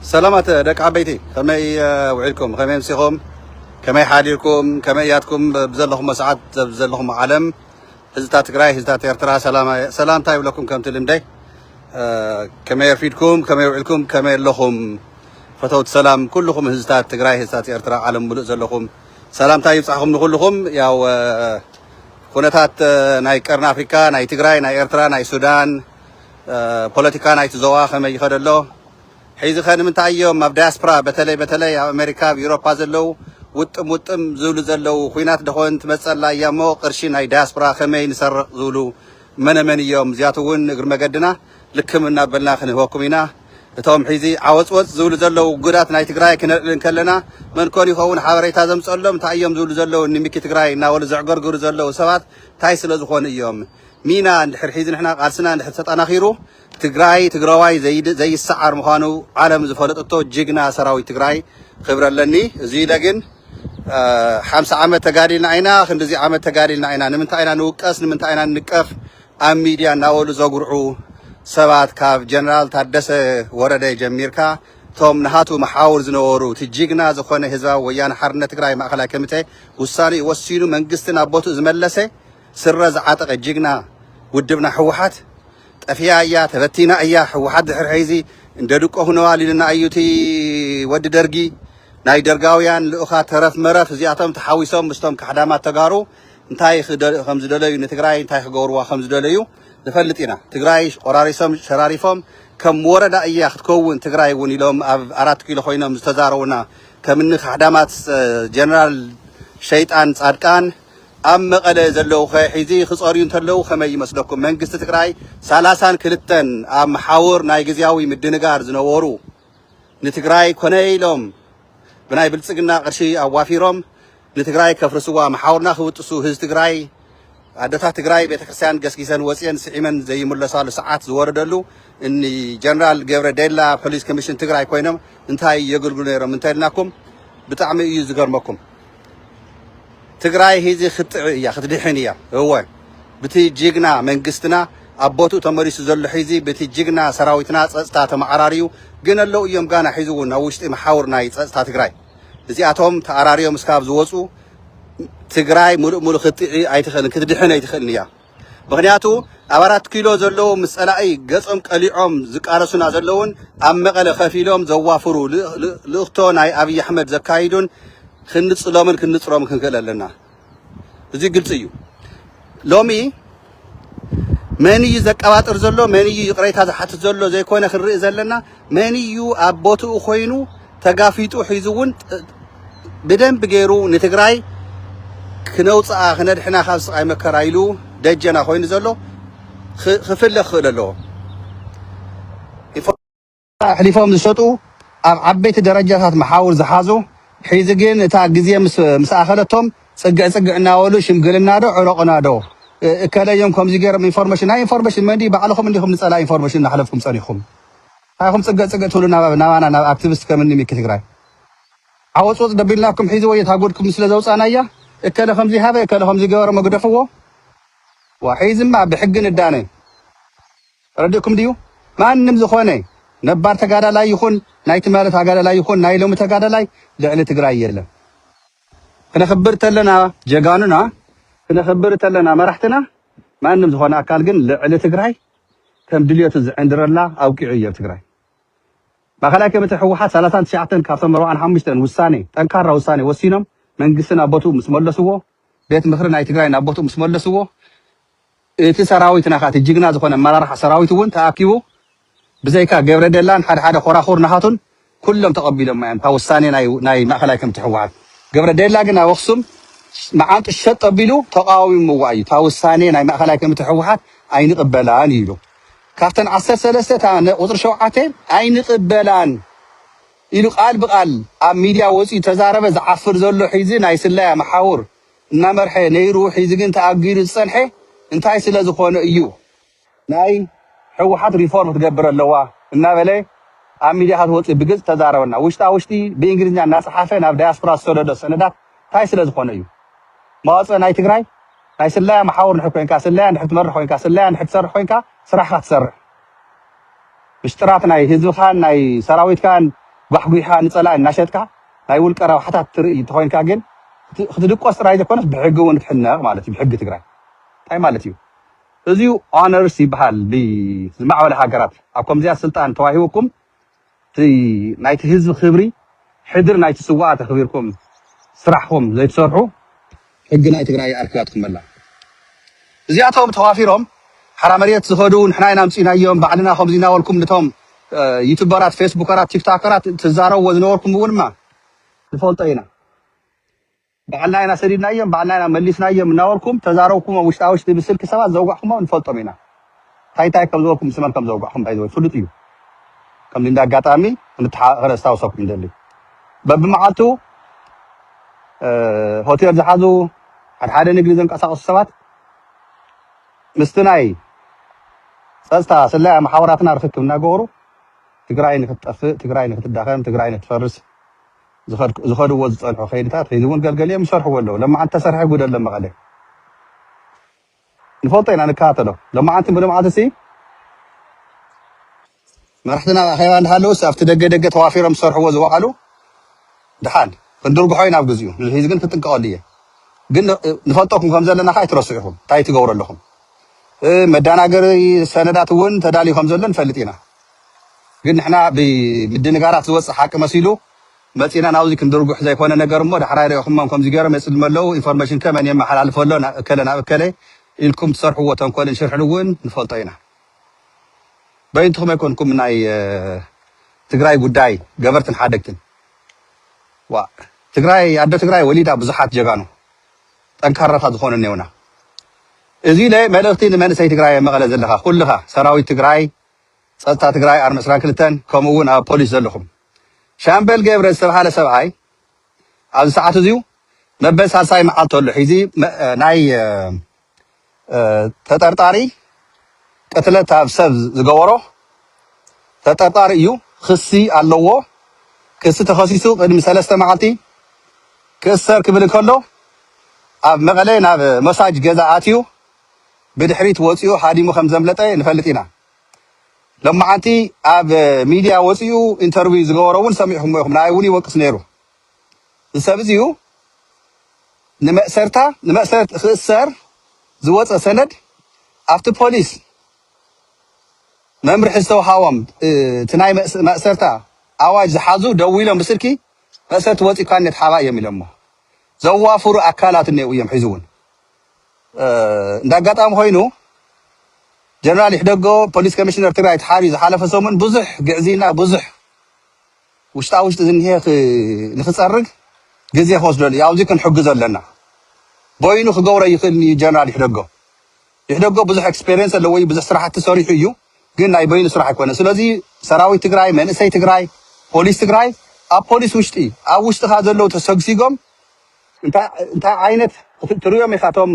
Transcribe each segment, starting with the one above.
ሰላማት ደቂ ዓበይቲ ከመይ ውዒልኩም ከመይ ምሲኹም ከመይ ሓዲርኩም ከመይ ያትኩም ብዘለኹሞ ሰዓት ዘለኹም ዓለም ህዝብታት ትግራይ ህዝብታት ኤርትራ ሰላምታ ይብለኩም ከምቲ ልምደይ ከመይ ኣርፊድኩም ከመይ ውዒልኩም ከመይ ኣለኹም ፈተውቲ ሰላም ኩልኹም ህዝብታት ትግራይ ህዝብታት ኤርትራ ዓለም ሙሉእ ዘለኹም ሰላምታ ይብፃሕኹም ንኩልኹም ያው ኩነታት ናይ ቀርኒ ኣፍሪካ ናይ ትግራይ ናይ ኤርትራ ናይ ሱዳን ፖለቲካ ናይቲ ዞባ ከመይ ይኸድ ኣሎ? ሕይዚኸ ንምንታይ እዮም ኣብ ዳያስፕራ በተለይ በተለይ ኣብ ኣሜሪካ ኣብ ኢሮፓ ዘለው ውጥም ውጥም ዝብሉ ዘለው? ኹናት ደኾን ትመፀላ እያ እሞ ቕርሺ ናይ ዳያስፕራ ከመይ ንሰርቕ ዝብሉ መነመን እዮም? እዚኣቱ እውን እግሪ መገድና ልክም እናበልና ክንህበኩም ኢና። እቶም ሕይዚ ዓወፅወፅ ዝብሉ ዘለው ውጉዳት ናይ ትግራይ ክነልዕል እንከለና መንኮን ይኸውን ሓበሬታ ዘምፀሎም? እንታይ እዮም ዝብሉ ዘለው እኒ ሚኪ ትግራይ እናበሉ ዘዕገርግሩ ዘለው ሰባት እንታይ ስለዝኾኑ እዮም? ሚና እንድሕር ሒዙ ንሕና ቃልስና እንድሕር ተጠናኺሩ ትግራይ ትግራዋይ ዘይሰዓር ምዃኑ ዓለም ዝፈለጠቶ ጅግና ሰራዊት ትግራይ ክብሪ ኣለኒ። እዚ ኢለ ግን ሓምሳ ዓመት ተጋዲልና ኢና ክንድዚ ዓመት ተጋዲልና ኢና ንምንታይ ኢና ንውቀስ ንምንታይ ኢና ንንቀፍ ኣብ ሚድያ እናበሉ ዘጉርዑ ሰባት ካብ ጀነራል ታደሰ ወረደ ጀሚርካ እቶም ንሃቱ መሓውር ዝነበሩ እቲ ጅግና ዝኾነ ህዝባዊ ወያነ ሓርነት ትግራይ ማእኸላይ ኮሚቴ ውሳኔ ወሲኑ መንግስቲ ናብ ቦትኡ ዝመለሰ ስረ ዝዓጠቀ ጅግና ውድብና ህወሓት ጠፊኣ እያ ተበቲና እያ ህወሓት ድሕር ሐይዚ እንደ ድቆ ሁነዋል ኢሉና እዩ እቲ ወዲ ደርጊ ናይ ደርጋውያን ልኡኻት ተረፍ መረፍ እዚኣቶም ተሓዊሶም ምስቶም ካሕዳማት ተጋሩ እንታይ ከምዝደለዩ ንትግራይ እንታይ ክገብርዋ ከምዝደለዩ ንፈልጥ ኢና ትግራይ ቆራሪሶም ሸራሪፎም ከም ወረዳ እያ ክትከውን ትግራይ እውን ኢሎም ኣብ ኣራት ኪሎ ኮይኖም ዝተዛረቡና ከምኒ ካሕዳማት ጀነራል ሸይጣን ጻድቃን ኣብ መቐለ ዘለዉኸ ሒዚ ክፀርዩ እንተለዉ ከመይ ይመስለኩም? መንግስቲ ትግራይ ሰላሳን ክልተን ኣብ መሓውር ናይ ግዝያዊ ምድንጋር ዝነበሩ ንትግራይ ኮነ ኢሎም ብናይ ብልፅግና ቅርሺ ኣዋፊሮም ንትግራይ ከፍርስዋ መሓውርና ክብጥሱ ህዝቢ ትግራይ ኣደታት ትግራይ ቤተክርስትያን ገስጊሰን ወፅየን ስዒመን ዘይምለሳሉ ሰዓት ዝወረደሉ እኒ ጀነራል ገብረ ዴላ ፖሊስ ኮሚሽን ትግራይ ኮይኖም እንታይ የገልግሉ ነይሮም እንተልናኩም ብጣዕሚ እዩ ዝገርመኩም። ትግራይ ሂዚ ክትጥዒ እያ ክትድሕን እያ እወ ብቲ ጅግና መንግስትና ኣብ ቦትኡ ተመሊሱ ዘሎ ሒዚ ብቲ ጅግና ሰራዊትና ፀፅታ ተመዓራርዩ ግን ኣለው እዮም ጋና ሒዚ እውን ኣብ ውሽጢ መሓውር ናይ ፀፅታ ትግራይ እዚኣቶም ተኣራርዮም እስካብ ዝወፁ ትግራይ ሙሉእ ሙሉእ ክትጥዒ ኣይትኽእልን ክትድሕን ኣይትኽእልን እያ ምኽንያቱ ኣብ ኣራት ኪሎ ዘለዉ ምስ ጸላኢ ገጾም ቀሊዖም ዝቃለሱና ዘለዉን ኣብ መቐለ ከፍ ኢሎም ዘዋፍሩ ልእኽቶ ናይ ኣብዪ ኣሕመድ ዘካይዱን ክንጽሎምን ክንጽሮም ክንክእል ኣለና። እዚ ግልጺ እዩ። ሎሚ መን እዩ ዘቀባጥር ዘሎ መን እዩ ይቕሬታ ዝሓትት ዘሎ ዘይኮነ ክንርኢ ዘለና መን እዩ ኣብ ቦትኡ ኮይኑ ተጋፊጡ ሒዙ እውን ብደንቢ ገይሩ ንትግራይ ክነውፅኣ ክነድሕና ካብ ስቃይ መከራ ኢሉ ደጀና ኮይኑ ዘሎ ክፍለ ክኽእል ኣለዎ። ኣሕሊፎም ዝሰጡ ኣብ ዓበይቲ ደረጃታት መሓውር ዝሓዙ ሒዚ ግን እታ ግዜ ምስ ኣኸለቶም ፅግዕ ፅግዕ እናበሉ ሽምግልና ዶ ዕረቑና ዶ እከለዮም ከምዚ ገይሮም ኢንፎርሜሽን ናይ ኢንፎርሜሽን መንዲ ባዕልኹም እንዲኹም ንፀላ ኢንፎርሜሽን እናሕለፍኩም ፀኒኹም ታይ ኢኹም ፅግዕ ፅግዕ ትብሉ ናባና ናብ ኣክትብስት ከም እኒ ሚኪ ትግራይ ዓወፅ ወፅ ደቢልናኩም ሒዚ ወዮ እታ ጎድኩም ስለ ዘውፃእናያ እከለ ከምዙይ ሃበ እከለ ከምዙይ ገበረ እሞ ግደፍዎ ዋ ሒዝማ ብሕጊ ንዳነ ረዲእኩም ድዩ ማንም ዝኾነ ነባር ተጋዳላይ ይኹን ናይ ትማሊ ተጋዳላይ ይኹን ናይ ሎሚ ተጋዳላይ ልዕሊ ትግራይ የለን ክነኽብር ተለና ጀጋኑና ክነኽብር ተለና መራሕትና ማንም ዝኾነ ኣካል ግን ልዕሊ ትግራይ ከም ድልየቱ ዝዕንድረላ ኣብቂዑ እዮ ትግራይ ማእኸላይ ኮሚቴ ህወሓት ሰላሳን ትሽዓተን ካብቶም ኣርብዓን ሓሙሽተን ውሳኔ ጠንካራ ውሳኔ ወሲኖም መንግስቲ ናብ ቦትኡ ምስ መለስዎ ቤት ምኽሪ ናይ ትግራይ ናብ ቦትኡ ምስ መለስዎ እቲ ሰራዊትና ከዓ እቲ ጅግና ዝኾነ ኣመራርሓ ሰራዊት እውን ተኣኪቡ ብዘይካ ገብረደላን ሓደ ሓደ ኮራኹር ናሃቱን ኩሎም ተቀቢሎማ እዮም እታ ውሳኔ ናይ ማእከላይ ከምቲ ህወሓት ገብረ ደላ ግን ኣብ ኣክሱም መዓንጡ ሸጥ ኣቢሉ ተቃዊምዋ እዩ እታ ውሳኔ ናይ ማእከላይ ከምቲ ህወሓት ኣይንቅበላን እዩ ኢሉ ካብተን ዓሰርተ ሰለስተ እታ ቁፅሪ ሸውዓተ ኣይንቅበላን ኢሉ ቃል ብቃል ኣብ ሚድያ ወፂኡ ተዛረበ ዝዓፍር ዘሎ ሒዚ ናይ ስለያ መሓውር እናመርሐ ነይሩ ሒዚ ግን ተኣጊዱ ዝፀንሐ እንታይ ስለዝኮነ እዩ ናይ ሕውሓት ሪፎርም ክትገብር ኣለዋ እናበለ ኣብ ሚድያታት ወፂኡ ብግልፂ ተዛረበና። ውሽጣ ውሽጢ ብእንግሊዝኛ እናፀሓፈ ናብ ዳያስፖራ ዝሰደዶ ሰነዳት ታይ ስለዝኾነ እዩ? መዋፅእ ናይ ትግራይ ናይ ስለያ መሓውር እንድሕር ኮይንካ ስለያ እንድሕር ትመርሕ ኮይንካ ስለያ እንድሕር ትሰርሕ ኮይንካ ስራሕኻ ትሰርሕ ምሽጥራት ናይ ህዝብኻን ናይ ሰራዊትካን ጓሕጒሕኻ ንፀላኢ እናሸጥካ ናይ ውልቀ ረብሓታት ትርኢ እንተኾይንካ ግን ክትድቆስ ጥራይ ዘይኮነስ ብሕጊ እውን ክትሕነቕ ማለት እዩ ብሕጊ ትግራይ ታይ ማለት እዩ? እዚዩ ኦነርስ ይብሃል ብዝማዕበለ ሃገራት ኣብ ከምዚኣ ስልጣን ተዋሂቡኩም እቲ ናይቲ ህዝቢ ክብሪ ሕድሪ ናይቲ ስዋኣት ኣክቢርኩም ስራሕኩም ዘይትሰርሑ ሕጊ ናይ ትግራይ ኣርኪባትኩም ኣላ እዚኣቶም ተዋፊሮም ሓራ መሬት ዝከዱ ንሕና ኢና ኣምጺናዮም ባዕልና ከምዚ ናበልኩም ንቶም ዩቱበራት ፌስቡከራት ቲክታከራት ትዛረብዎ ዝነበርኩም እውንማ ንፈልጦ ኢና። ባዕልና ኢና ሰዲድናዮም ባዕልና ኢና መሊስናዮም እናበልኩም ተዛረብኩሞ ውሽጣ ውሽጢ ብስልኪ ሰባት ዘውጋዕኩሞም ንፈልጦም ኢና ታይ ታይ ከምዝበልኩም ምስ መን ከምዘውጋዕኩም ባይ ዘ ወይ ፍሉጥ እዩ ከምዚ እንዳ ኣጋጣሚ ክንተሓቃቀ ከነስታውሰኩም ይደሊ በብመዓልቱ ሆቴል ዝሓዙ ሓደ ሓደ ንግዲ ዘንቀሳቀሱ ሰባት ምስቲ ናይ ፀፅታ ስለያ መሓውራትና ርክክብ እናገበሩ ትግራይ ንክትጠፍእ ትግራይ ንክትዳኸም ትግራይ ንክትፈርስ ዝኸድዎ ዝፀንሑ ከይድታት ሕዚ እውን ገልገሊኦም ይሰርሕዎ ኣለዉ ለማዓንቲ ተሰርሐ ጉድ ኣሎ መቐለ ንፈልጦ ኢና ንከታተሎ ለማዓንቲ ብልምዓት እሲ መራሕትና ኣብ ኣኼባ እንዳሃለውስ ኣብቲ ደገ ደገ ተዋፊሮም ዝሰርሕዎ ዝወዓሉ ድሓን ክንድርግሖ ኢና ኣብ ግዚኡ ንድሒዚ ግን ክጥንቀቐሉ እየ ግን ንፈልጠኩም ከም ዘለና ከዓ ኣይትረስዑ ኢኹም እንታይ ትገብሩ ኣለኹም መዳናገሪ ሰነዳት እውን ተዳልዩ ከም ዘሎ ንፈልጥ ኢና ግን ንሕና ብምድንጋራት ዝወጽእ ሓቂ መሲሉ መጺእና ናብዚ ክንድርጉሕ ዘይኮነ ነገር እሞ ዳሕራይ ርኢኹሞም ከምዚ ጌሮም የጽልሙ ኣለዉ ኢንፎርሜሽን ከ መን የመሓላልፎ ኣሎ ናብ እከለ ናብ እከለ ኢልኩም ትሰርሕዎ ተንኮልን ሽርሕን ውን ንፈልጦ ኢና በይንትኹም ኣይኮንኩም ናይ ትግራይ ጉዳይ ገበርትን ሓደግትን ዋእ ትግራይ ኣደ ትግራይ ወሊዳ ብዙሓት ጀጋኑ ጠንካራታት ዝኾኑ እኔውና እዚ ለ መልእኽቲ ንመንእሰይ ትግራይ መቐለ ዘለኻ ኩልኻ ሰራዊት ትግራይ ፀጥታ ትግራይ ኣርሚ ዕስራን ክልተን ከምኡ እውን ኣብ ፖሊስ ዘለኹም። ሻምበል ገብረ ዝተብሃለ ሰብኣይ ኣብዚ ሰዓት እዚዩ መበል ሳልሳይ መዓልቱ ኣሎ ሒዚ ናይ ተጠርጣሪ ቅትለት ኣብ ሰብ ዝገበሮ ተጠርጣሪ እዩ ክሲ ኣለዎ ክሲ ተኸሲሱ ቅድሚ ሰለስተ መዓልቲ ክእሰር ክብል እንከሎ ኣብ መቐለ ናብ መሳጅ ገዛ ኣትዩ ብድሕሪት ወጺኡ ሃዲሙ ከም ዘምለጠ ንፈልጥ ኢና። ሎማዓንቲ ኣብ ሚድያ ወጺኡ ኢንተርቪው ዝገበሮ እውን ሰሚዕኹሞ ኢኹም፣ ንኣይ እውን ይወቅስ ነይሩ። እዚ ሰብ እዚዩ ንመእሰርታ ንመእሰርቲ ክእሰር ዝወጸ ሰነድ ኣብቲ ፖሊስ መምርሒ ዝተውሃቦም እቲ ናይ ማእሰርታ ኣዋጅ ዝሓዙ ደዊሎም ብስልኪ መእሰርቲ ወጺእካኒ ተሓባእ እዮም ኢሎሞ ዘዋፍሩ ኣካላት እኔዉ እዮም ሕዚ እውን እንደ ኣጋጣሚ ኮይኑ ጀነራል ይሕደጎ ፖሊስ ኮሚሽነር ትግራይ ተሓርዩ ዝሓለፈ ሰሙን ብዙሕ ግዕዝይና ብዙሕ ውሽጣ ውሽጢ ዝኒሀ ክ- ንክፀርግ ግዜ ክወስደሉ እዩ ኣብዚ ክንሕግዞ ኣለና በይኑ ክገብሮ ይኽእል እዩ ጀነራል ይሕደጎ ይሕደጎ ብዙሕ ኤክስፔሪንስ ኣለዎ እዩ ብዙሕ ስራሕቲ ሰሪሑ እዩ ግን ናይ በይኑ ስራሕ ኣይኮነ ስለዚ ሰራዊት ትግራይ መንእሰይ ትግራይ ፖሊስ ትግራይ ኣብ ፖሊስ ውሽጢ ኣብ ውሽጥኻ ዘለው ተሰግሲጎም እንታይ እንታይ ዓይነት ክት- ትርእዮም ኢኻ እቶም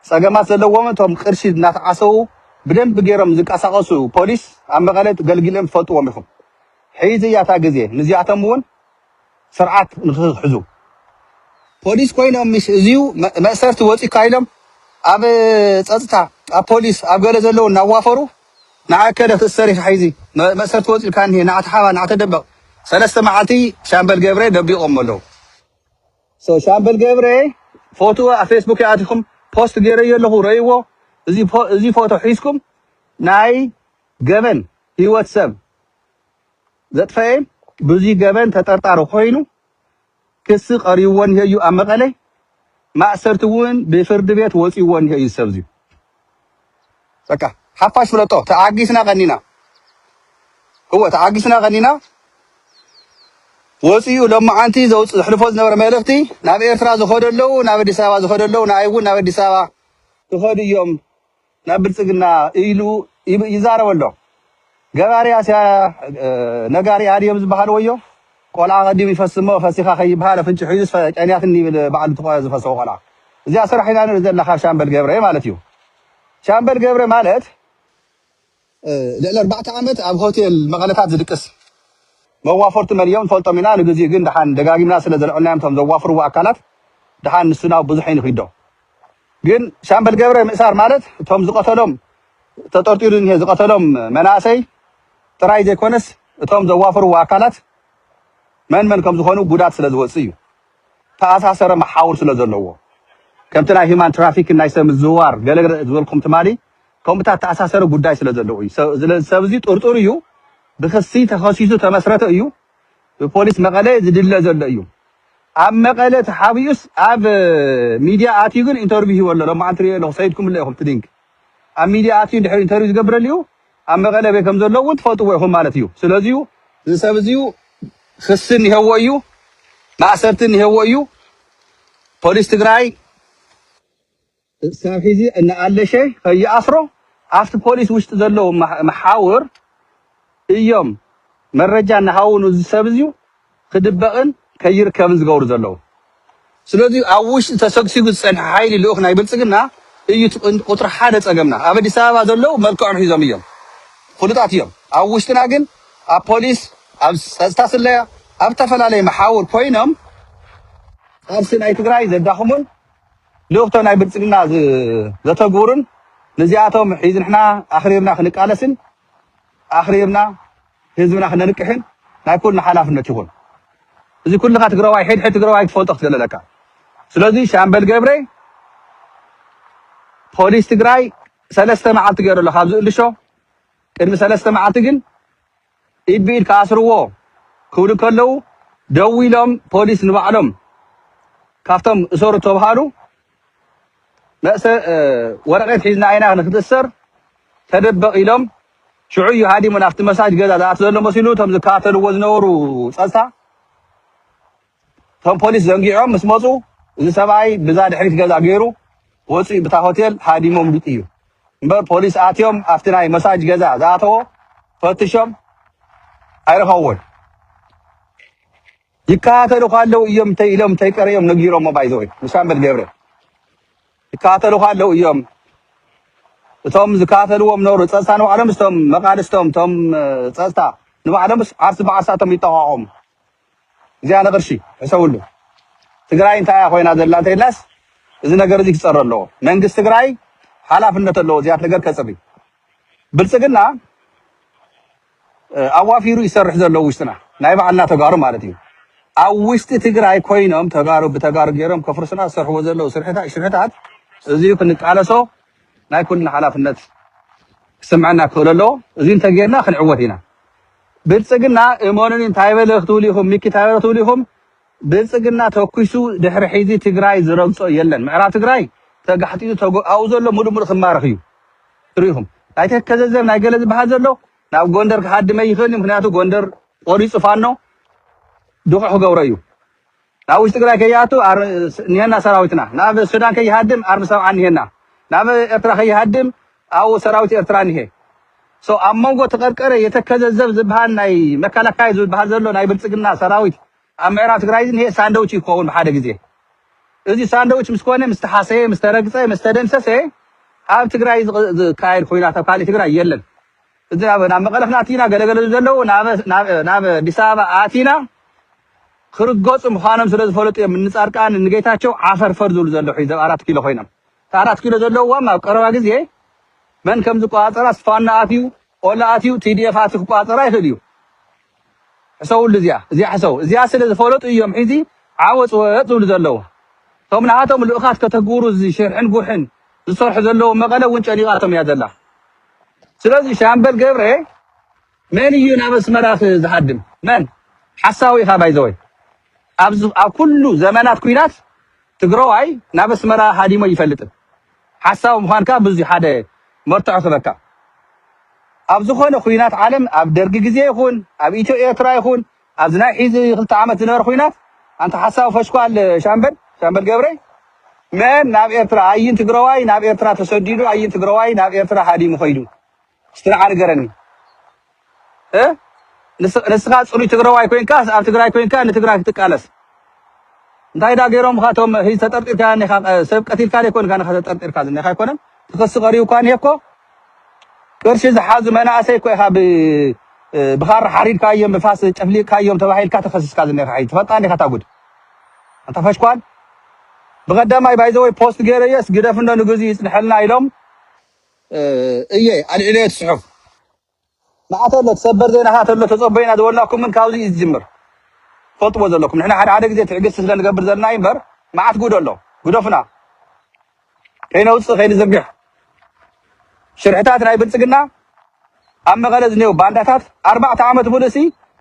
ጸገማት ዘለዎም እቶም ቅርሺ እናተዓሰዉ ብደንቢ ገይሮም ዝንቀሳቐሱ ፖሊስ ኣብ መቐለ ገልጊሎም ትፈልጥዎም ኢኹም ሕዚ እያ እታ ግዜ ንዚኣቶም እውን ስርዓት ንክሕዙ ፖሊስ ኮይኖም ምስ እዚዩ መ- መእሰርቲ ወጺካ ኢሎም ኣብ ጸጥታ ኣብ ፖሊስ ኣብ ገለ ዘለዉ እናዋፈሩ ንኣከለ ክትእሰር ኢኻ ሕዚ መ- መእሰርቲ ወጺልካ እኒሄ ንኣተሓባ ንኣተደበቕ ሰለስተ መዓልቲ ሻምበል ገብረ ደቢቖሞ ኣለዉ So ሻምበል ገብረ ፎቶ ኣብ ፌስቡከይ ኣቲኹም ፖስት ገይረዮ ኣለኹ ረእይዎ እዚ ፎ- እዚ ፎቶ ሒዝኩም ናይ ገበን ህይወት ሰብ ዘጥፈኤ ብዙይ ገበን ተጠርጣሪ ኮይኑ ክሲ ቀሪብዎ እኒሀ እዩ ኣብ መቐለ ማእሰርቲ እውን ብፍርዲ ቤት ወፂዎ እኒሀ እዩ ሰብ እዚዩ በቃ ሓፋሽ ፍለጦ ተዓጊስና ቀኒና እወ ተዓጊስና ቀኒና ወፂኡ ሎማዓንቲ ዘውፅ ዘሕልፎ ዝነበረ መልእኽቲ ናብ ኤርትራ ዝኸዱ ኣለዉ ናብ ኣዲስ ኣበባ ዝኸዱ ኣለዉ ንኣይ እውን ናብ ኣዲስ ኣበባ ክኸዱ እዮም ናብ ብልፅግና ኢሉ ይብ- ይዛረብ ኣሎ ገባሪ ኣስያ ነጋሪ ኣድዮ ብዝበሃል ወዮ ቆልዓ ቀዲሙ ይፈሲ እሞ ፈሲካ ከይበሃል ኣፍንጭሑ ሒዙስ ጨንያትኒ ይብል በዓል ብትቆ ዝፈሰወ ቆልዓ እዚኣ ስራሕ ኢና ንርኢ ዘለና ካብ ሻምበል ገብረ ማለት እዩ ሻምበል ገብረ ማለት ልዕሊ ኣርባዕተ ዓመት ኣብ ሆቴል መቐለታት ዝድቅስ መዋፈርቱ መን እዮም ንፈልጦም ኢና ንግዚኡ ግን ድሓን ደጋጊምና ስለ ዘልዕልናዮም እቶም ዘዋፍርዎ ኣካላት ድሓን ንሱ ናብ ብዙሕ ይንኺዶ ግን ሻምበል ገብረ ምእሳር ማለት እቶም ዝቐተሎም ተጠርጢሩ ዝንሄ ዝቐተሎም መናእሰይ ጥራይ ዘይኮነስ እቶም ዘዋፈርዎ ኣካላት መን መን ከምዝኾኑ ጉዳት ስለዝወፅእ እዩ። ዝተኣሳሰረ መሓውር ስለዘለዎ ከምቲ ናይ ሂማን ትራፊክን ናይ ሰብ ምዝውዋር ገለ ዝበልኩም ትማሊ ከምኡታት ዝተኣሳሰረ ጉዳይ ስለዘለዎ እዩ። ስለዚ ሰብ እዚ ጥርጡር እዩ፣ ብክሲ ተኸሲሱ ተመስረተ እዩ፣ ብፖሊስ መቐለ ዝድለ ዘሎ እዩ። ኣብ መቐለ ተሓቢኡስ ኣብ ሚድያ ኣትዩ ግን ኢንተርቪው ሂቡ ኣሎ፣ ሎማዓንቲ ሪኤዮ ኣለኹ፣ ሰዲድኩምለይ ኢኹም እቲ ሊንክ። ኣብ ሚድያ ኣትዩ እንድሕር ኢንተርቪው ዝገብረልዩ ኣብ መቐለ ኣበይ ከምዘሎ እውን ትፈልጥዎ ኢኹም ማለት እዩ። ስለዚዩ እዚ ሰብ እዚዩ ኽሲ እኒሀዎ እዩ፣ ማእሰርቲ እኒሀዎ እዩ፣ ፖሊስ ትግራይ ክሳብ ሒዚ እናኣለሸ ኸይኣስሮ ኣብቲ ፖሊስ ውሽጢ ዘሎ መሓውር እዮም መረጃ እናሃቡ ንዚ ሰብ እዚዩ ክድበቕን ከይርከብን ዝገብሩ ዘለዉ። ስለዚ ኣብ ውሽጢ ተሰግሲጉ ዝጸንሐ ሓይሊ ልኡኽ ናይ ብልጽግና እዩ እቲ ቀንዲ ቁጽሪ ሓደ ጸገምና። ኣብ ኣዲስ ኣበባ ዘለዉ መልክዖም ሒዞም እዮም ፍሉጣት እዮም። ኣብ ውሽጥና ግን ኣብ ፖሊስ፣ ኣብ ጸጥታ ስለያ፣ ኣብ እተፈላለየ መሓውር ኮይኖም ቃልሲ ናይ ትግራይ ዘዳኽሙን ልእኽቶ ናይ ብልጽግና ዘተግብሩን ንዚኣቶም ሒዝንሕና ኣኽሪርና ክንቃለስን ኣኽሪርና ህዝብና ክነንቅሕን ናይ ኩልና ሓላፍነት ይኹን። እዚ ኩልኻ ትግራዋይ ሕድ ሕድ ትግራዋይ ትፈልጦ ክትገለ ኣለካ። ስለዚ ሻምበል ገብረ ፖሊስ ትግራይ ሰለስተ መዓልቲ ገይሩ ኣሎ ካብ ዝእልሾ ቅድሚ ሰለስተ መዓልቲ ግን ኢድ ብኢድ ክኣስርዎ ክብሉ ከለዉ ደዊሎም ፖሊስ ንባዕሎም ካብቶም እሰሩ ተብሃሉ መእሰ ወረቀት ሒዝና ኢና ንክትእሰር ተደበቅ ኢሎም ሽዑ እዩ ሃዲሙ ናብቲ መሳጅ ገዛ ዝኣቲ ዘሎ መሲሉ እቶም ዝከታተልዎ ዝነበሩ ፀፅታ እቶም ፖሊስ ዘንጊዖም ምስ መፁ እዚ ሰብኣይ ብዛ ድሕሪት ገዛ ገይሩ ወፂኡ ብታ ሆቴል ሃዲሞም ዱጥ እዩ እምበር ፖሊስ ኣትዮም ኣብቲ ናይ መሳጅ ገዛ ዝኣተዎ ፈትሾም ኣይረኸብዎን ይከታተሉኻ ኣለው እዮም እንተይ ኢሎም እንተይ ቀሪኦም ነጊሮሞ ባይ ዘ ወይ ምስ ኣምበል ገብረ ይከታተሉኻ ኣለው እዮም እቶም ዝከታተልዎም ነበሩ ፀፅታ ንባዕሎምስ እቶም መቃልስቶም እቶም ፀፅታ ንባዕሎምስ ዓርሲ ብዓርሳቶም ይጠቋቖሙ እዚኣ ንቅርሺ ሕሰብሉ ትግራይ እንታይ እያ ኮይና ዘላ እንተይልናስ እዚ ነገር እዚ ክፀረ ኣለዎ መንግስቲ ትግራይ ሓላፍነት ኣለዎ እዚኣት ነገር ከፅሪ ብልጽግና ኣዋፊሩ ይሰርሕ ዘሎ ውሽጥና ናይ ባዕልና ተጋሩ ማለት እዩ ኣብ ውሽጢ ትግራይ ኮይኖም ተጋሩ ብተጋሩ ገይሮም ከፍርሱና ዝሰርሕዎ ዘለዉ ሽርሕታት እዚዩ ክንቃለሶ ናይ ኩልና ሓላፍነት ክስምዐና ክኽእል ኣለዎ እዚ እንተጌርና ክንዕወት ኢና ብልጽግና እመኑኒ እንታይ በለ ክትብሉ ኢኹም ሚኪ እንታይ በለ ክትብሉ ኢኹም ብልፅግና ተኩሱ ድሕሪ ሒዚ ትግራይ ዝረግፆ የለን ምዕራብ ትግራይ ተጋሕጢጡ ተጎ ኣብኡ ዘሎ ሙሉእ ሙሉእ ክማረኽ እዩ ትሪኡ ኢኹም ናይ ተከዘዘብ ናይ ገለ ዝበሃል ዘሎ ናብ ጎንደር ክሃድም ኣይኽእልን እዩ ምክንያቱ ጎንደር ቆሪፁ ፋኖ ድቑዕ ክገብሮ እዩ ናብ ውሽጢ ትግራይ ከይኣቱ ኣር- ስ- እኒሀና ሰራዊትና ናብ ሱዳን ከይሃድም ኣርሚ ሰብዓ እኒሀና ናብ ኤርትራ ከይሃድም ኣብኡ ሰራዊት ኤርትራ እኒሀ ሶ ኣብ መንጎ ተቀርቀረ የተከዘዘብ ዝበሃል ናይ መከላከያ ዝበሃል ዘሎ ናይ ብልፅግና ሰራዊት ኣብ ምዕራብ ትግራይ ዝንሄ ሳንደውች እዩ ክኸውን ብሓደ ግዜ። እዚ ሳንደውች ምስ ኮነ፣ ምስ ተሓሰየ፣ ምስ ተረግጸ፣ ምስ ተደምሰሰ፣ ኣብ ትግራይ ዝካየድ ኹናት ኣብ ካሊእ ትግራይ የለን። እዚ ናብ ናብ መቐለ ክናትይና ገለ ገለ ዘለዉ ናብ ናብ ናብ ኣዲስ ኣበባ ኣቲና ክርገጹ ምዃኖም ስለ ዝፈለጡ እዮም እኒ ጻድቃን እኒ ጌታቸው ዓፈርፈር ዝብሉ ዘለዉ ሕዚ ኣብ ኣራት ኪሎ ኮይኖም። እቲ ኣራት ኪሎ ዘለዉዋም ኣብ ቀረባ ግዜ መን ከም ዝቆጻጸራስ ፋኖ ኣትዩ ኦላ ኣትዩ TDF ኣትዩ ክቋጸራ ይኽእል እዩ ሕሰውሉ እዚኣ እዚኣ ሕሰው እዚኣ ስለ ዝፈለጡ እዮም ሒዚ ዓወጽ ወጽ ዝብሉ ዘለዉ እቶም ናሃቶም ልኡኻት ከተግብሩ እዚ ሽርሕን ጉሕን ዝሰርሑ ዘለዉ መቐለ እውን ጨኒቓቶም እያ ዘላ ስለዚ ሻምበል ገብረ መን እዩ ናብ ኣስመራ ዝሃድም መን ሓሳዊ ኢኻ ባይዘወይ ኣብ ኩሉ ዘመናት ኩናት ትግረዋይ ናብ ኣስመራ ሃዲሞ ይፈልጥን ሓሳዊ ምዃንካ ብዙ ሓደ መርትዖ ክህበካ ኣብ ዝኾነ ኹናት ዓለም ኣብ ደርጊ ግዜ ይኹን ኣብ ኢትዮ ኤርትራ ይኹን ኣብዚ ናይ ሒዚ ክልተ ዓመት ዝነበረ ኹናት ኣንታ ሓሳዊ ፈሽኳል ሻምበል ሻምበል ገብረይ መን ናብ ኤርትራ ኣይን ትግረዋይ ናብ ኤርትራ ተሰዲዱ ኣይን ትግረዋይ ናብ ኤርትራ ሃዲሙ ከይዱ እስቲ ንዓ ንገረኒ እ ንስኻ ጽሩይ ትግራዋይ ኮይንካስ ኣብ ትግራይ ኮይንካ ንትግራይ ክትቃለስ እንታይ ዳ ገይሮምካ እቶም ህይ ተጠርጢርካ ኔኻ ሰብ ቀቲልካ ዘይኮንካ ኔኻ ተጠርጢርካ ዝኔኻ ኣይኮነን ትኽሲ ቀሪብካ ኔ እኮ ቅርሺ ዝሓዙ መናእሰይ እኮ ኢኻ ብኻራ ሓሪድካዮም ብፋስ ጨፍሊቕካዮም ተባሂልካ ተኸሲስካ ዝኔኻ ሕይ ትፈልጣ ኔኻ እታ ጉድ ኣንታ ፈሽኳል ብቐዳማይ ባይዘወይ ፖስት ገይረየስ ግደፍኖ ንግዚ ይጽንሐልና ኢሎም እየ ኣልዒለዮ እቲ ጽሑፍ ንዓ ተሎ እቲ ሰበር ዜና ከኣ ተሎ ተጸበዩና ዝበልናኩምን ካብዚ እዩ ዝጅምር ትፈልጥዎ ዘለኩም ንሕና ሓደ ሓደ ግዜ ትዕግስቲ ስለ ንገብር ዘለና እዩ እምበር መዓት ጉድ ኣሎ ግደፉና ከይነውጽእ ከይንዝርግሕ ሽርሕታት ናይ ብልጽግና ኣብ መቐለ ዝኔው ባንዳታት ኣርባዕተ ዓመት ሙሉእሲ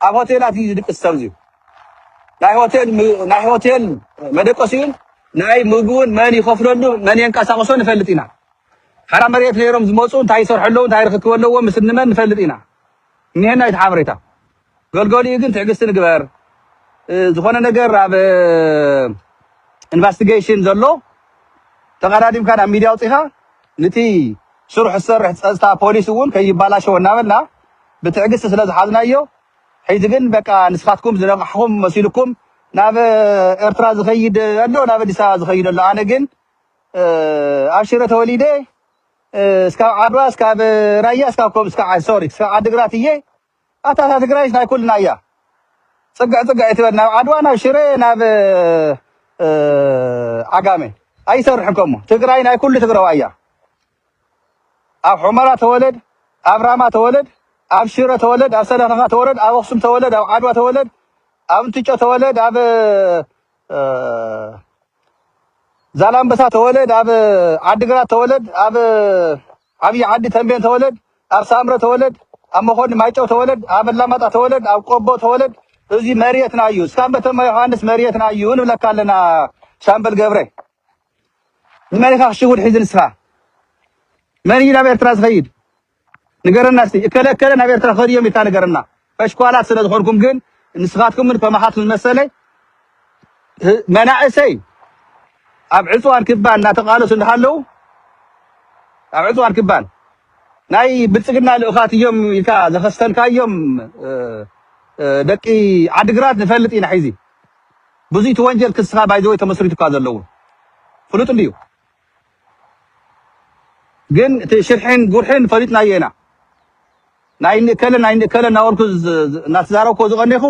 ኣብ ሆቴላት እዩ ዝድቅስ ሰብዚ ናይ ሆቴል ም- ናይ ሆቴል መደቀሲኡን ናይ ምግቡን መን ይኸፍለሉ መን የንቀሳቕሶ ንፈልጥ ኢና ሓራ መሬት ነይሮም ዝመፁ እንታይ ይሰርሑ ኣለዉ እንታይ ርክክብ ኣለዎም ምስ እንመን ንፈልጥ ኢና እኒሀና እቲ ሓበሬታ ገልገሊኡ ግን ትዕግስቲ ንግበር ዝኾነ ነገር ኣብ ኢንቨስቲጌሽን ዘሎ ተቀዳዲምካ ናብ ሚዲያ ውፅኢኻ ንቲ ስርሑ ዝሰርሕ ፀፅታ ፖሊስ እውን ከይባላሸወ እናበልና ብትዕግስቲ ስለ ዝሓዝናዮ ሕዚ ግን በቃ ንስኻትኩም ዝነቃሕኹም መሲልኩም ናብ ኤርትራ ዝኸይድ ኣሎ ናብ ኣዲስ ኣበባ ዝኸይድ ኣሎ ኣነ ግን ኣብ ሽረ ተወሊደ እስካብ ዓድዋ እስካብ ራያ እስካብ ኮም እስካብ ሶሪ እስካብ ዓድግራት እየ ኣታ እታ ትግራይስ ናይ ኩልና እያ ፅግዕ ፅግዕ እትበል ናብ ዓድዋ ናብ ሽረ ናብ ዓጋመ ኣይሰርሕን ከሞ ትግራይ ናይ ኩሉ ትግራዋ እያ ኣብ ሑመራ ተወለድ ኣብ ራማ ተወለድ ኣብ ሽረ ተወለድ ኣብ ሰለከካ ተወለድ ኣብ ኣክሱም ተወለድ ኣብ ዓድዋ ተወለድ ኣብ እንትጮ ተወለድ ኣብ ዛላምበሳ ተወለድ ኣብ ዓዲግራት ተወለድ ኣብ ዓብይ ዓዲ ተንቤን ተወለድ ኣብ ሳምረ ተወለድ ኣብ መኮኒ ማይጨው ተወለድ ኣብ ኣላማጣ ተወለድ ኣብ ቆቦ ተወለድ እዚ መሬትና እዩ እስካም በተማ ዮሃንስ መሬትና እዩ ንብለካ ኣለና ሻምበል ገብረ ንመን ኢኻ ሽጉጥ ሒዙ ንስኻ መን እዩ ናብ ኤርትራ ዝኸይድ ንገረና እስቲ እከለ እከለ ናብ ኤርትራ ክኸዱ እዮም ኢልካ ንገረና ፈሽኳላት ስለ ዝኾንኩም ግን ንስኻትኩምን ከማኻትኩም ዝመሰለይ መናእሰይ ኣብ ዕፅዋን ክባን እናተቃለሱ እንዳሃለው ኣብ ዕፅዋን ክባን ናይ ብልፅግና ልኡኻት እዮም ኢልካ ዘኸስተልካዮም ደቂ ዓድግራት ንፈልጥ ኢና ሕዚ ብዙይ ትወንጀል ክስኻ ባይ ዘወይ ተመስሪቱካ ዘለዎ ፍሉጥ እንድዩ ግን እቲ ሽርሒን ጉርሒን ፈሊጥናዮ ኢና ናይ ንእከለ ናይ ንእከለ እናበልኩ እናተዛረብኮ ዝቐኔኹ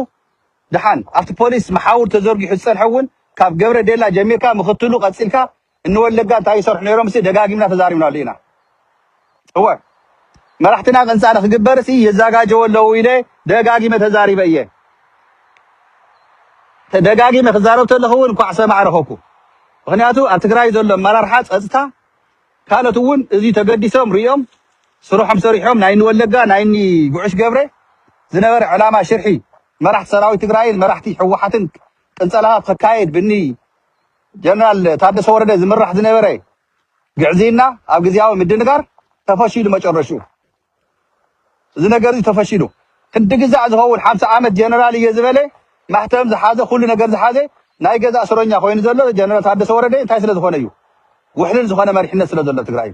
ድሓን ኣብቲ ፖሊስ መሓውር ተዘርጊሑ ዝጸንሐ እውን ካብ ገብረ ዴላ ጀሚርካ ምኽትሉ ቀጺልካ እንወለጋ እንታይ ይሰርሑ ነይሮምሲ ደጋጊምና ተዛሪብናሉ ኢና እወ መራሕትና ቀንፃሊ ክግበርሲ የዛጋጀወ ኣለዉ ኢለ ደጋጊመ ተዛሪበ እየ ደጋጊመ ክዛረብ ተለኹ እውን እንኳዕ ሰማዕ ረኸብኩ። ምክንያቱ ኣብ ትግራይ ዘሎ ኣመራርሓ ፀፅታ ካልኦት እውን እዚ ተገዲሶም ሪኦም ስርሖም ሰሪሖም ናይ ንወለጋ ናይ ኒ ጉዑሽ ገብረ ዝነበረ ዕላማ ሽርሒ መራሕቲ ሰራዊት ትግራይን መራሕቲ ህወሓትን ቅንፀላታት ክካየድ ብኒ ጀነራል ታደሰ ወረደ ዝምራሕ ዝነበረ ግዕዝይና ኣብ ግዝያዊ ምድንጋር ተፈሺሉ መጨረሽኡ እዚ ነገር እዚ ተፈሺሉ ክንዲ ግዛዕ ዝኸውን ሓምሳ ዓመት ጀነራል እየ ዝበለ ማሕተም ዝሓዘ ኩሉ ነገር ዝሓዘ ናይ ገዛ እስረኛ ኮይኑ ዘሎ ጀነራል ታደሰ ወረደ እንታይ ስለ ዝኾነ እዩ ውሕልል ዝኾነ መሪሕነት ስለ ዘሎ ትግራይ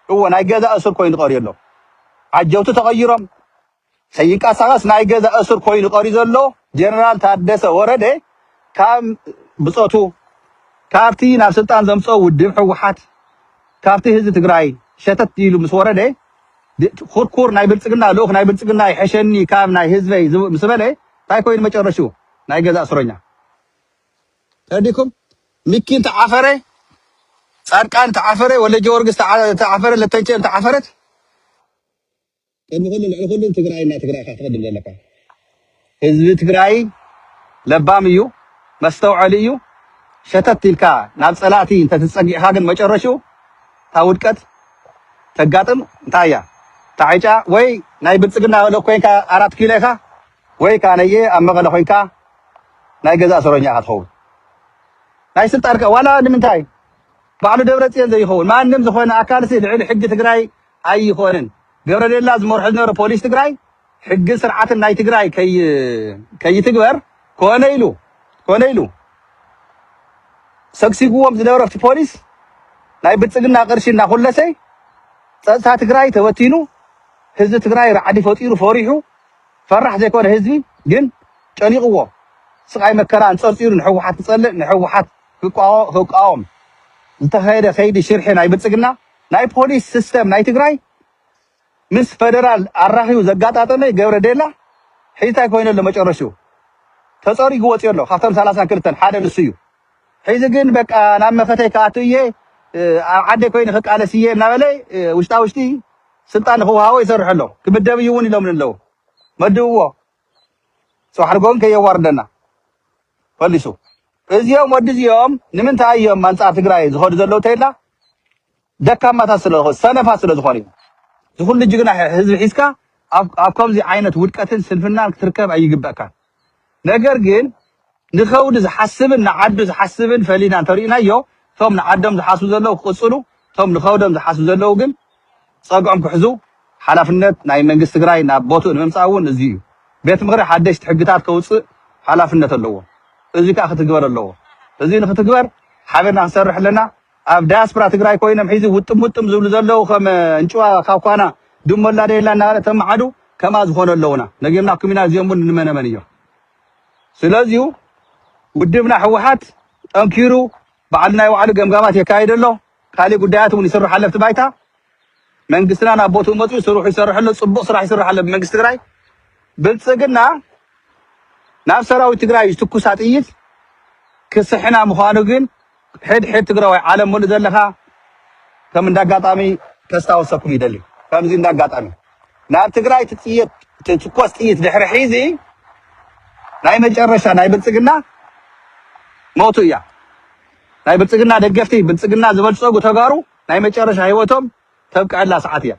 እዎ ናይ ገዛ እስር ኮይኑ ቀርዩ ኣሎ ዓጀውቲ ተቐይሮም ከይንቀሳቐስ ናይ ገዛ እሱር ኮይኑ ቀርዩ ዘሎ ጀነራል ታደሰ ወረደ ካብ ብጾቱ ካብቲ ናብ ስልጣን ዘምጽኦ ውድብ ህወሓት ካብቲ ህዝቢ ትግራይ ሸተት ኢሉ ምስ ወረደ ኩርኩር ናይ ብልጽግና ልኡኽ ናይ ብልጽግና ይሕሸኒ ካብ ናይ ህዝበይ ምስ በለ እንታይ ኮይኑ መጨረሽኡ ናይ ገዛ እስረኛ ተረዲኩም ሚኪ እንተዓፈረ ጻድቃን ተዓፈረ ወልደጀወርግስ ተዓፈረ ለተንቸ ተዓፈረት ቅድሚ ኩሉ ልዕሊ ኩሉ ትግራይ እና ትግራይካ ትቅድም ዘለካ ህዝቢ ትግራይ ለባም እዩ መስተውዐሊ እዩ ሸተት ኢልካ ናብ ፀላእቲ እንተትፀጊዕካ ግን መጨረሽኡ እታ ውድቀት ተጋጥም እንታይ እያ እታ ዕጫ ወይ ናይ ብልፅግና ልእ ኮይንካ ኣራት ኪሎ ኢካ ወይ ከዓ ነየ ኣብ መቐለ ኮይንካ ናይ ገዛ ሰሮኛ ኢካ ትኸውን ናይ ስልጣን ዋላ ንምንታይ ባዕሉ ደብረፅዮን ዘይኸውን ማንም ዝኾነ ኣካልሲ ልዕሊ ሕጊ ትግራይ ኣይኾንን ገብረሌላ ዝመርሖ ዝነበረ ፖሊስ ትግራይ ሕግን ስርዓትን ናይ ትግራይ ከይትግበር ኮነ ኢሉ ኮነ ኢሉ ሰግሲግዎም ዝነበረ ኣብቲ ፖሊስ ናይ ብልፅግና ቅርሺ እናኹለሰ ፀጥታ ትግራይ ተበቲኑ ህዝቢ ትግራይ ራዕዲ ፈጢሩ ፈሪሑ ፈራሕ ዘይኮነ ህዝቢ ግን ጨኒቕዎ ስቓይ መከራ እንፀርፂሩ ንሕወሓት ክፀልእ ንሕወሓት ክቃወም ዝተኸየደ ከይዲ ሽርሒ ናይ ብልፅግና ናይ ፖሊስ ስስተም ናይ ትግራይ ምስ ፈደራል ኣራኽዩ ዘጋጣጠመ ገብረ ዴላ ሕዚ ታይ ኮይኑ ኣሎ መጨረሽኡ ተፀሪጉ ወፅዩ ኣሎ ካብቶም ሰላሳን ክልተን ሓደ ንሱ እዩ ሕዚ ግን በቃ ናብ መኸተይ ክኣቱ እየ ኣብ ዓደይ ኮይኑ ክቃለስ እየ እናበለ ውሽጣ ውሽጢ ስልጣን ንክወሃቦ ይሰርሑ ኣሎ ክምደብ እዩ እውን ኢሎምን ኣለዉ መድብዎ ፅባሕ ንግሆ ግን ከየዋርደና ፈሊሱ እዚኦም ወዲ እዚኦም ንምንታይ እዮም ኣንጻር ትግራይ ዝኸዱ ዘለዉ ተይላ ደካማታት ስለዝኾኑ ሰነፋት ስለዝኾኑ እዩ። ዝኹሉ ጅግና ህዝቢ ሒዝካ ኣብ ኣብ ከምዚ ዓይነት ውድቀትን ስንፍናን ክትርከብ ኣይግበእካን። ነገር ግን ንኸውዲ ዝሓስብን ንዓዱ ዝሓስብን ፈሊና እንተሪእናዮ እቶም ንዓዶም ዝሓስቡ ዘለዉ ክቕጽሉ እቶም ንኸውዶም ዝሓስቡ ዘለዉ ግን ጸግዖም ክሕዙ ሓላፍነት ናይ መንግስቲ ትግራይ ናብ ቦትኡ ንምምጻእ እውን እዙይ እዩ። ቤት ምኽሪ ሓደሽቲ ሕግታት ከውጽእ ሓላፍነት ኣለዎ። እዙይ ከዓ ክትግበር ኣለዎ። እዙይ ንክትግበር ሓቢርና ክንሰርሕ ኣለና። ኣብ ዳያስፕራ ትግራይ ኮይኖም ሕዚ ውጥም ውጥም ዝብሉ ዘለዉ ከም እንጭዋ ካብ ኳና ድሙ ኣላ ደየላ እናበለ ተመዓዱ ከምኣ ዝኾኑ ኣለዉና። ነጊርናኩም ኢና እዚኦም እውን ንመነመን እዮም። ስለዚሁ ውድብና ህወሓት ጠንኪሩ ባዕሉ ናይ ባዕሉ ገምጋማት የካይድ ኣሎ። ካሊእ ጉዳያት እውን ይስርሑ ኣለፍቲ ባይታ መንግስትና ናብ ቦትኡ መፅኡ ስርሑ ይሰርሕ ኣሎ ፅቡቅ ስራሕ ይስራሕ ኣሎ ብመንግስቲ ትግራይ ብልፅግና ናብ ሰራዊት ትግራይ ዝትኩሳ ጥይት ክስሕና ምዃኑ ግን ሕድ ሕድ ትግራዋይ ዓለም ሙሉእ ዘለኻ ከም እንዳጋጣሚ ከስታወሰኩም ይደሊ ከምዚ እንዳጋጣሚ ናብ ትግራይ ትጥየት ትትኮስ ጥይት ድሕሪ ሒዚ ናይ መጨረሻ ናይ ብልፅግና ሞቱ እያ ናይ ብልፅግና ደገፍቲ ብልፅግና ዝበልፀጉ ተጋሩ ናይ መጨረሻ ሂወቶም ተብቀዐላ ሰዓት እያ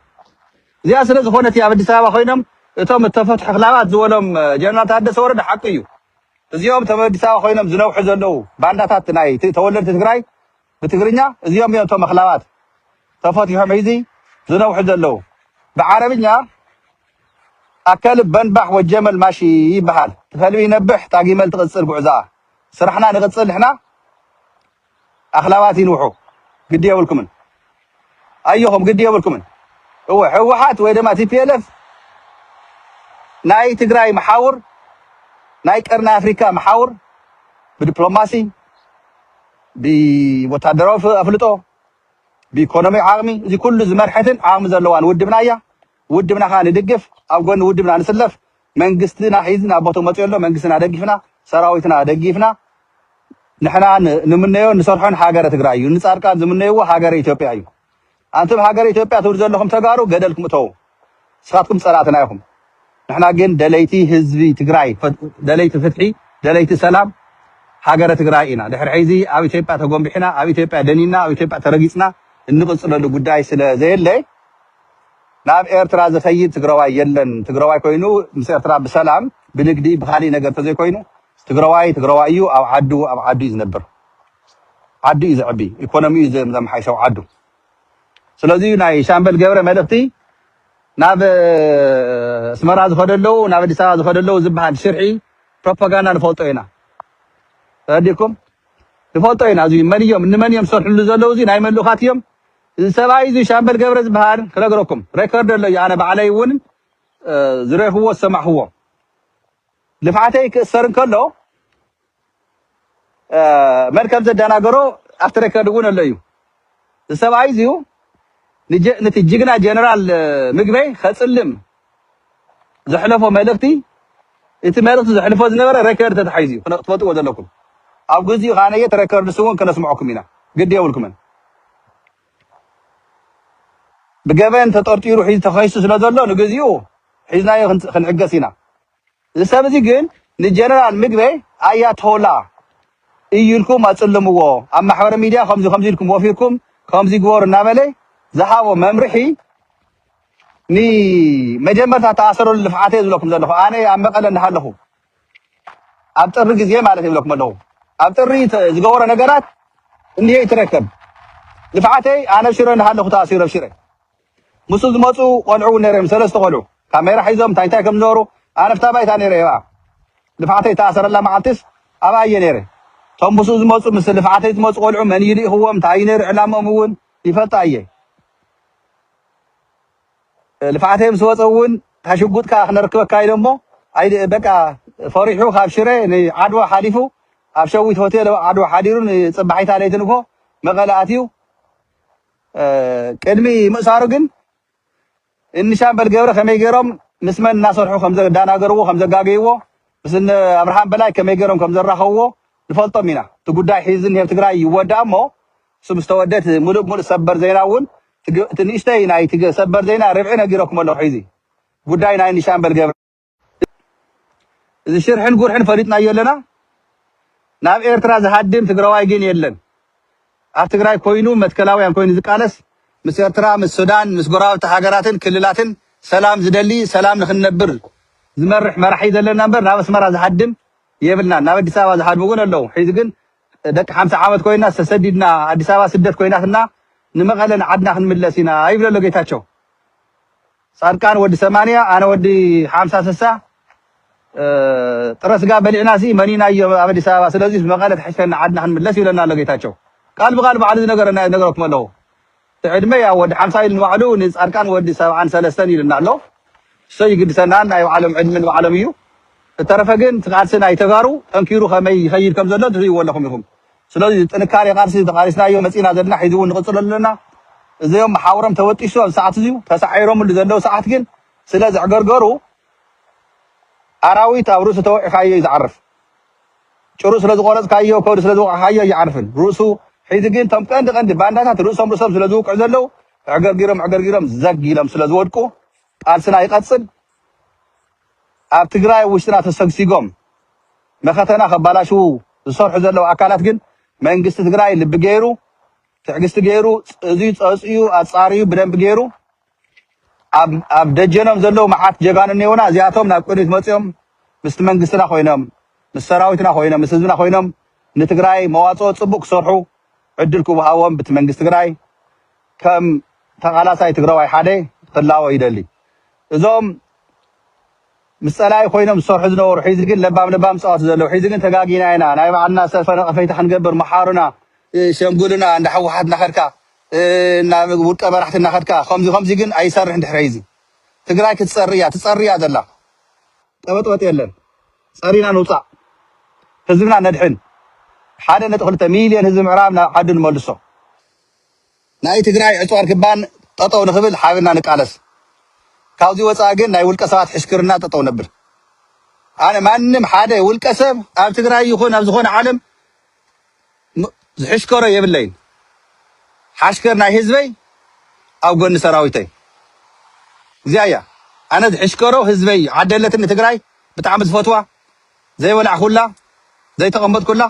እዚኣ ስለ ዝኾነት እያ ኣብ ኣዲስ ኣበባ ኮይኖም እቶም እተፈትሑ ክላባት ዝበሎም ጀነራል ታደሰ ወረደ ሓቁ እዩ እዚኦም እቶም ኣዲስ ኣበባ ኮይኖም ዝነውሑ ዘለው ባንዳታት ናይ ተወለድቲ ትግራይ ብትግርኛ እዚኦም እዮም እቶም ኣኽላባት ተፈቲሖም ሒዚ ዝነውሑ ዘለው ብዓረብኛ ኣከልብ በንባሕ ወጀመል ማሺ ይበሃል ትኸልቢ ይነብሕ ታጊመል ትቕፅል ጉዕዛ ስራሕና ንቅፅል ንሕና ኣኽላባት ይንውሑ ግዲ የብልኩምን ኣዮኹም ግዲ የብልኩምን እወ ህወሓት ወይ ድማ ቲፒኤልኤፍ ናይ ትግራይ መሓውር ናይ ቀርኒ ኣፍሪካ መሓውር ብዲፕሎማሲ ብወታደራዊ ኣፍልጦ ብኢኮኖሚ ዓቕሚ እዚ ኩሉ ዝመርሐትን ዓቕሚ ዘለዋን ውድብና እያ ውድብና ከዓ ንድግፍ ኣብ ጎኒ ውድብና ንስለፍ መንግስትና ሒዝን ኣብ ቦትኡ መጽዩ ኣሎ መንግስትና ደጊፍና ሰራዊትና ደጊፍና ንሕና ንምነዮን ንሰርሖን ሃገረ ትግራይ እዩ ንጻድቃን ዝምነይዎ ሃገረ ኢትዮጵያ እዩ ኣንቱም ሃገረ ኢትዮጵያ ትብሉ ዘለኹም ተጋሩ ገደልኩም እተዉ ንስኻትኩም ጸላእትና ኢኹም ንሕና ግን ደለይቲ ህዝቢ ትግራይ ደለይቲ ፍትሒ ደለይቲ ሰላም ሃገረ ትግራይ ኢና ድሕሪ ሕዚ ኣብ ኢትዮጵያ ተጎንቢሕና ኣብ ኢትዮጵያ ደኒና ኣብ ኢትዮጵያ ተረጊጽና እንቕጽለሉ ጉዳይ ስለ ዘየለ ናብ ኤርትራ ዝከይድ ትግረዋይ የለን ትግረዋይ ኮይኑ ምስ ኤርትራ ብሰላም ብንግዲ ብካሊእ ነገር ተዘይኮይኑ ትግረዋይ ትግረዋይ እዩ ኣብ ዓዱ ኣብ ዓዱ እዩ ዝነብር ዓዱ እዩ ዘዕቢ ኢኮኖሚኡ እዩ ዘመሓይሽ ኣብ ዓዱ ስለዚ እዩ ናይ ሻምበል ገብረ መልእክቲ ናብ ኣስመራ ዝከደ ኣለዉ ናብ ኣዲስ ኣበባ ዝከደ ኣለዉ ዝበሃል ሽርሒ ፕሮፓጋንዳ ንፈልጦ ኢና ተረዲኩም ንፈልጦ ኢና እዚ መን እዮም ንመን እዮም ዝሰርሕሉ ዘለዉ እዚ ናይ መን ልኡካት እዮም እዚ ሰብኣይ እዚ ሻምበል ገብረ ዝብሃል ክነግረኩም ሬከርድ ኣለዮ ኣነ ባዕለይ እውን ዝሬክዎ ዝሰማዕክዎ ልፍዓተይ ክእሰር እንከሎ መን ከም ዘደናገሮ ኣብቲ ሬከርድ እውን ኣሎ እዩ እዚ ሰብኣይ እዚዩ ንቲ ጅግና ጀነራል ምግበይ ከፅልም ዘሕለፎ መልእኽቲ እቲ መልእኽቲ ዘሕልፎ ዝነበረ ረከርድ ተታሒዙ እዩ ክትፈልጥዎ ዘለኩም ኣብ ግዚኡ ከኣ እቲ ረከርድስ እውን ከነስምዐኩም ኢና ግዲ የብልኩምን ብገበን ተጠርጢሩ ሒዙ ተኸሲሱ ስለ ዘሎ ንግዚኡ ሒዝናዮ ክንዕገስ ኢና እዚ ሰብ እዚ ግን ንጀነራል ምግበይ ኣያቶላ እዩ ኢልኩም ኣጽልምዎ ኣብ ማሕበረ ሚድያ ከምዚ ከምዚ ኢልኩም ወፊርኩም ከምዚ ግበሩ እናበለ ዝሃቦ መምርሒ ንመጀመርታ ተኣሰረሉ ልፍዓተ እየ ዝብለኩም ዘለኹ ኣነ ኣብ መቐለ እንዳሃለኹ ኣብ ጥሪ ግዜ ማለት ይብለኩም ኣለኹ ኣብ ጥሪ ዝገበሮ ነገራት እንሄ ይትረከብ ልፍዓተይ ኣነ ኣብ ሽረ እንዳሃለኹ ተኣሲሩ ኣብ ሽረ ምስኡ ዝመጹ ቆልዑ ውን ነይሮም ሰለስተ ቆልዑ ካሜራ ሒዞም እንታይ እንታይ ከም ዝገበሩ ኣነ ኣብታ ባይታ ነይረ ኣብኣ ልፍዓተይ እተኣሰረላ መዓልቲስ ኣብኣ እየ ነይረ እቶም ምስኡ ዝመጹ ምስ ልፍዓተይ ዝመጹ ቆልዑ መን እዩ ልኢኽዎም እንታይ እዩ ነይሩ ዕላምኦም እውን ይፈልጣ እየ ልፍዓተይ ምስ ወጸ እውን እታ ሽጉጥካ ክነርክበካ ኢሎሞ በቃ ፈሪሑ ካብ ሽረ ንዓድዋ ሓሊፉ ኣብ ሸዊት ሆቴል ዓድዋ ሓዲሩ ንጽባሒታ ለይቲ ንግሆ መቐለ ኣትዩ ቅድሚ ምእሳሩ ግን እንሻምበል ገብረ ከመይ ገይሮም ምስ መን እናሰርሑ ከም ዘዳናገርዎ ከም ዘጋገይዎ ምስ እነ ኣብርሃም በላይ ከመይ ገይሮም ከም ዘራኸብዎ ንፈልጦም ኢና። እቲ ጉዳይ ሕዚ ዝኒሀ ኣብ ትግራይ ይወዳእ እሞ እሱ ምስ ተወደ እቲ ምሉእ ብምሉእ ሰበር ዜና እውን እቲ ንእሽተይ ናይ ሰበር ዜና ርብዒ ነጊረኩም ኣለኹ። ሕዚ ጉዳይ ናይ እንሻምበል ገብረ እዚ ሽርሕን ጉርሕን ፈሊጥናዮ ኣለና ናብ ኤርትራ ዝሃድም ትግራዋይ ግን የለን ኣብ ትግራይ ኮይኑ መትከላውያን ኮይኑ ዝቃለስ ምስ ኤርትራ ምስ ሱዳን ምስ ጎረባብቲ ሃገራትን ክልላትን ሰላም ዝደሊ ሰላም ንክንነብር ዝመርሕ መራሒ ዘለና እምበር ናብ ኣስመራ ዝሃድም የብልናን ናብ ኣዲስ ኣበባ ዝሃድሙ እውን ኣለዉ ሕዚ ግን ደቂ ሓምሳ ዓመት ኮይና ተሰዲድና ኣዲስ ኣበባ ስደት ኮይናትና ንመቐለ ንዓድና ክንምለስ ኢና ይብለ ኣሎ ጌታቸው ፃድቃን ወዲ ሰማንያ ኣነ ወዲ ሓምሳ ስሳ ጥረ ስጋ በሊዕናሲ መኒናዮ ኣብ ኣዲስ ኣበባ ስለዚ ብመቐለ ትሕሸና ዓድና ክንምለስ ይብለና ኣሎ ጌታቸው ቃል ብቓል ባዕሉ ዝነገረና ነገረኩም ኣለኹ እቲ ዕድመ ያው ወዲ ሓምሳ ኢሉ ንባዕሉ ንፃድቃን ወዲ ሰብዓን ሰለስተን ኢሉና ኣሎ እሶ ይግድሰናን ናይ ባዕሎም ዕድመ ንባዕሎም እዩ እተረፈ ግን እቲ ቃልሲ ናይ ተጋሩ ጠንኪሩ ከመይ ይኸይድ ከም ዘሎ ትርእይዎ ኣለኹም ኢኹም ስለዚ ጥንካሬ ቃልሲ ተቃሊስናዮ መጺእና ዘለና ሕዚ እውን ንቅጽሎ ኣለና። እዘዮም መሓውሮም ተበጢሱ ኣብዚ ሰዓት እዚዩ ተሳዒሮምሉ ዘለው ሰዓት ግን ስለ ዘዕገርገሩ ኣራዊት ኣብ ርእሱ ተወዒካዮ እዩ ዝዓርፍ። ጭሩ ስለ ዝቆረጽካዮ ከብዱ ስለ ዝወቃዕካዮ ኣይዓርፍን ርእሱ ሕዚ ግን እቶም ቀንዲ ቀንዲ ባንዳታት ርእሶም ርእሶም ስለ ዝውቅዑ ዘለው ዕገርጊሮም ዕገርጊሮም ዘግ ኢሎም ስለ ዝወድቁ ቃልስና ይቀጽል። ኣብ ትግራይ ውሽጥና ተሰግሲጎም መኸተና ከባላሽዉ ዝሰርሑ ዘለዉ ኣካላት ግን መንግስቲ ትግራይ ልቢ ገይሩ ትዕግስቲ ገይሩ እዙይ ፀፅዩ ኣፃርዩ ብደንቢ ገይሩ ኣብ ኣብ ደጀኖም ዘለዉ መዓት ጀጋኑ እኔውና እዚኣቶም ናብ ቅድሚት መፅዮም ምስቲ መንግስትና ኮይኖም ምስ ሰራዊትና ኮይኖም ምስ ህዝብና ኮይኖም ንትግራይ መዋፅኦ ፅቡቅ ክሰርሑ ዕድል ክወሃቦም ብቲ መንግስቲ ትግራይ ከም ተቃላሳይ ትግራዋይ ሓደ ክላወ ይደሊ እዞም ምስ ፀላኢ ኮይኖም ዝሰርሑ ዝነበሩ ሒዚ ግን ለባም ለባም ዝፃወቱ ዘለው ሒዚ ግን ተጋጊና ኢና ናይ ባዕልና ሰልፈ ነቐፈይታ ክንገብር መሓሩና ሸምጉሉና እንዳ ሕወሓት እናኸድካ ናብ ውልቀ መራሕቲ እናኸድካ ከምዚ ከምዚ ግን ኣይሰርሕን ድሕሪ ሒዚ ትግራይ ክትፀሪ እያ ትፀሪ እያ ዘላ ቀበጥበጥ የለን ፀሪና ንውፃእ ህዝብና ነድሕን ሓደ ነጥቢ ክልተ ሚልዮን ህዝቢ ምዕራብ ናብ ዓዱ ንመልሶ። ናይ ትግራይ ዕፅዋ ርክባን ጠጠው ንክብል ሓቢርና ንቃለስ ካብዙይ ወፃኢ ግን ናይ ውልቀ ሰባት ሕሽክርና ጠጠው ነብል ኣነ ማንም ሓደ ውልቀ ሰብ ኣብ ትግራይ ይኩን ኣብ ዝኮነ ዓለም ዝሕሽከሮ የብለይን ሓሽከር ናይ ህዝበይ ኣብ ጎኒ ሰራዊተይ እዚኣ እያ ኣነ ዝሕሽከሮ ህዝበይ እዩ ዓደለትኒ ትግራይ ብጣዕሚ ዝፈትዋ ዘይበላዕኹላ ዘይተቀመጥኩላ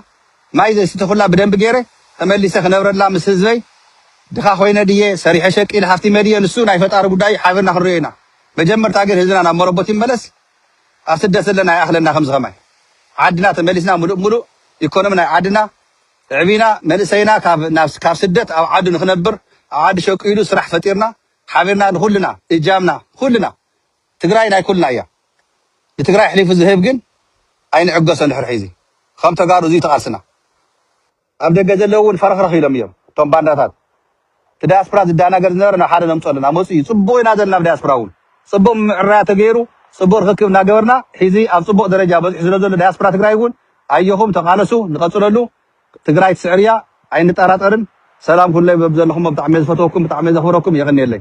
ማይ ዘይሰተኹላ ብደንቢ ገይረ ተመሊሰ ክነብረላ ምስ ህዝበይ ድኻ ኮይነ ድየ ሰሪሐ ሸቂለ ሃፍቲመ ድየ ንሱ ናይ ፈጣሪ ጉዳይ እዩ ሓቢርና ክንሪኦ ኢና መጀመርታ ግን ህዝብና ናብ መረቦት ይመለስ ኣብ ስደት ዘለና ይኣኽለና ከምዚ ከማይ ዓድና ተመሊስና ምሉእ ምሉእ ኢኮኖሚ ናይ ዓድና ኣዕቢና መንእሰይና ካብ ስደት ኣብ ዓዱ ንክነብር ኣብ ዓዱ ሸቂሉ ስራሕ ፈጢርና ሓቢርና ንኹልና እጃምና ኩልና ትግራይ ናይ ኩልና እያ ንትግራይ ኣሕሊፉ ዝህብ ግን ኣይንዕገሶን ድሕሪ ሕዚ ኸም ተጋሩ እዙይ እቲ ቃልስና። ኣብ ደገ ዘለው እውን ፈረኽረኽ ኢሎም እዮም እቶም ባንዳታት እቲ ዳያስፕራ ዝዳናገር ዝነበረ ናብ ሓደ ነምፆ ኣለና መፁ እዩ ፅቡቅ ኢና ዘለና ብዳያስፕራ እውን ፅቡቅ ምምዕራያ ተገይሩ ፅቡቅ ርኽክብ እናገበርና ሒዚ ኣብ ፅቡቅ ደረጃ በፂሑ ስለዘሎ ዳያስፕራ ትግራይ እውን ኣዮኹም ተቃለሱ ንቀፅለሉ ትግራይ ትስዕር እያ ኣይንጠራጠርን ሰላም ኩኑለይ በብዘለኹሞ ብጣዕሚ እየ ዝፈትወኩም ብጣዕሚ እየ ዘኽብረኩም የቀንየለይ።